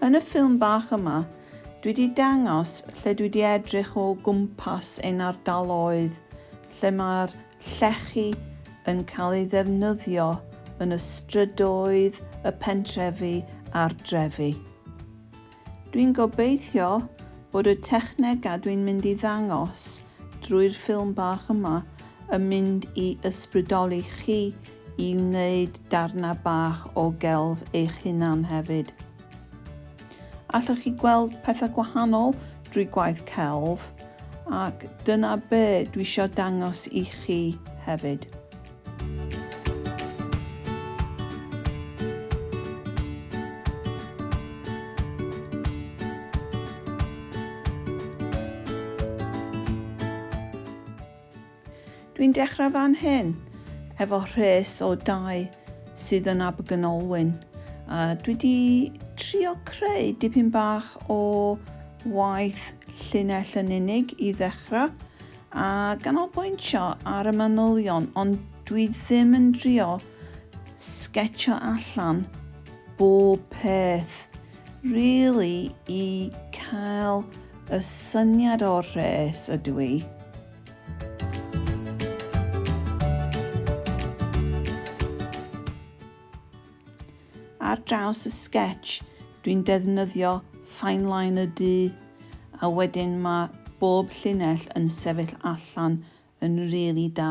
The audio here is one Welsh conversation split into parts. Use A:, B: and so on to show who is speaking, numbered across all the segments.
A: Yn y ffilm bach yma, dwi wedi dangos lle dwi wedi edrych o gwmpas ein ardaloedd lle mae'r llechi yn cael ei ddefnyddio yn y strydoedd, y pentrefi a'r drefi. Dwi'n gobeithio bod y technegau dwi'n mynd i ddangos drwy'r ffilm bach yma yn mynd i ysbrydoli chi i wneud darnau bach o gelf eich hunan hefyd. Allwch chi gweld pethau gwahanol drwy gwaith celf ac dyna be dwi isio dangos i chi hefyd. Dwi'n dechrau fan hyn efo rhes o dau sydd yn Abergynolwyn. A dwi wedi trio creu dipyn bach o waith llinell yn unig i ddechrau. a ganolbwyntio ar y manylion ond dwi ddim yn drio sgetsio allan bob peth rili i cael y syniad o'r rhes ydw i. Ar draws y sketch dwi'n defnyddio fine line y du a wedyn mae bob llinell yn sefyll allan yn rili da.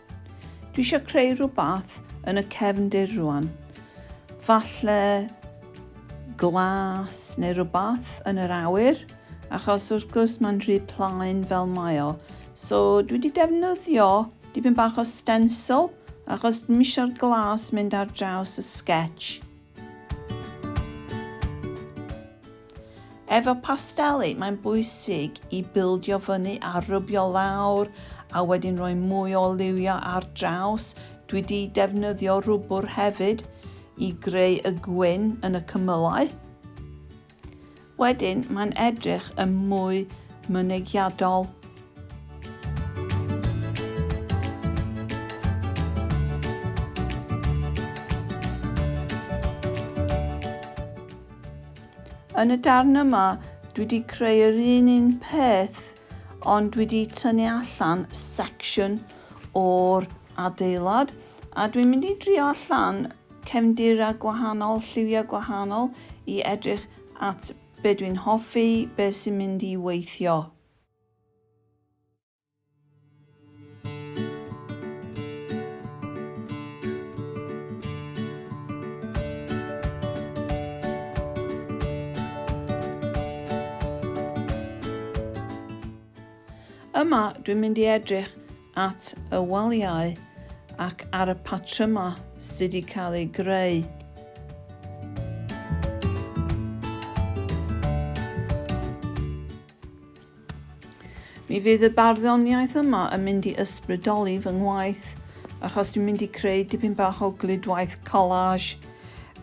A: Dwi eisiau creu rhywbeth yn y cefndir rwan. Falle glas neu rhywbeth yn yr awyr, achos wrth gwrs mae'n rhy plaen fel mae o. So dwi wedi defnyddio dipyn bach o stencil, achos dwi'n eisiau'r glas mynd ar draws y sketch. Efo pasteli, mae'n bwysig i bildio fyny a rybio lawr a wedyn rhoi mwy o liwio ar draws. Dwi wedi defnyddio rwbwr hefyd i greu y gwyn yn y cymylau. Wedyn mae'n edrych yn mwy mynegiadol. Yn y darn yma, dwi wedi creu yr un un peth, ond dwi wedi tynnu allan section o'r adeilad, a dwi'n mynd i drio allan cefndirau gwahanol, lliwiau gwahanol i edrych at be dwi'n hoffi, be sy'n mynd i weithio. Yma dwi'n mynd i edrych at y waliau ac ar y patrymau sydd wedi cael eu greu. Mi fydd y barddoniaeth yma yn mynd i ysbrydoli fy ngwaith achos dwi'n mynd i creu dipyn bach o gludwaith collage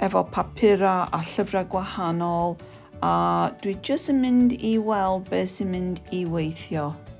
A: efo papurau a llyfrau gwahanol a dwi jyst yn mynd i weld beth sy'n mynd i weithio.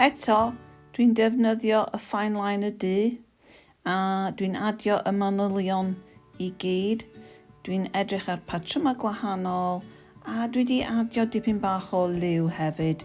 A: Eto, dwi'n defnyddio y fine line y du a dwi'n adio y manylion i gyd. Dwi'n edrych ar patrymau gwahanol a dwi wedi adio dipyn bach o liw hefyd.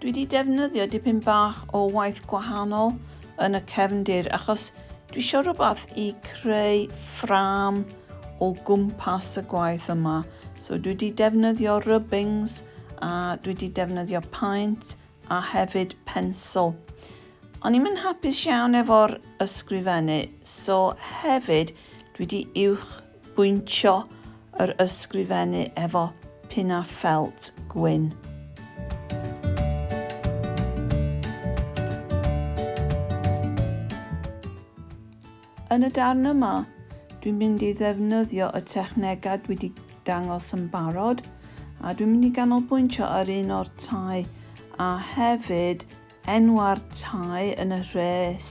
A: Dwi wedi defnyddio dipyn bach o waith gwahanol yn y cefndir achos dwi eisiau rhywbeth i creu ffram o gwmpas y gwaith yma. So dwi wedi defnyddio rubbings a dwi wedi defnyddio paent a hefyd pensl. O'n i'n hapus iawn efo'r ysgrifennu, so hefyd dwi wedi uwch bwyntio yr ysgrifennu efo pinnau ffelt gwyn. Yn y darn yma, dwi'n mynd i ddefnyddio y technegau dwi wedi dangos yn barod a dwi'n mynd i ganolbwyntio ar un o'r tai a hefyd enw'r tai yn y rhes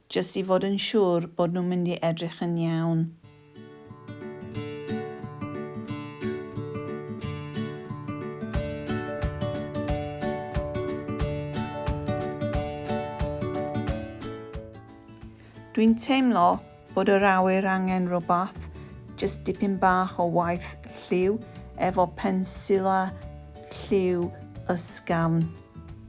A: Jyst i fod yn siŵr bod nhw'n mynd i edrych yn iawn. Dwi'n teimlo bod yr awyr angen rhywbeth, jyst dipyn bach o waith lliw efo pensila lliw ysgafn.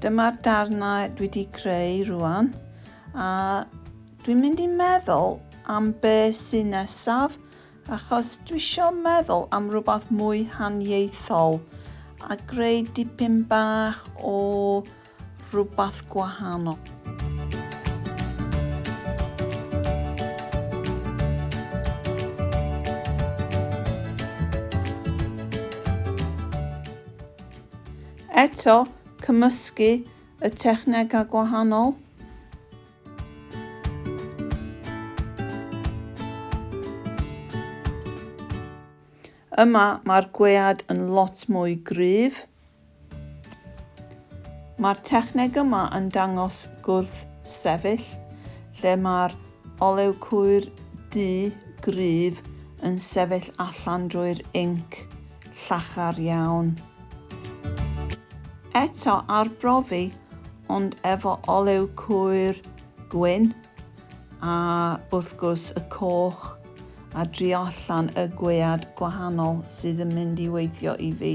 A: Dyma'r darnau dwi wedi creu rwan a dwi'n mynd i meddwl am be sy'n nesaf achos dwi isio meddwl am rhywbeth mwy haniaethol a greu dipyn bach o rhywbeth gwahanol. Eto, cymysgu y technegau gwahanol. Yma mae'r gwead yn lot mwy gryf. Mae'r techneg yma yn dangos gwrthsefyll lle mae'r olew cwyr du gryf yn sefyll allan drwy'r inc llachar iawn. Eto arbrofi ond efo olew cwyr gwyn a wrth gwrs y coch a drio allan y gwead gwahanol sydd yn mynd i weithio i fi.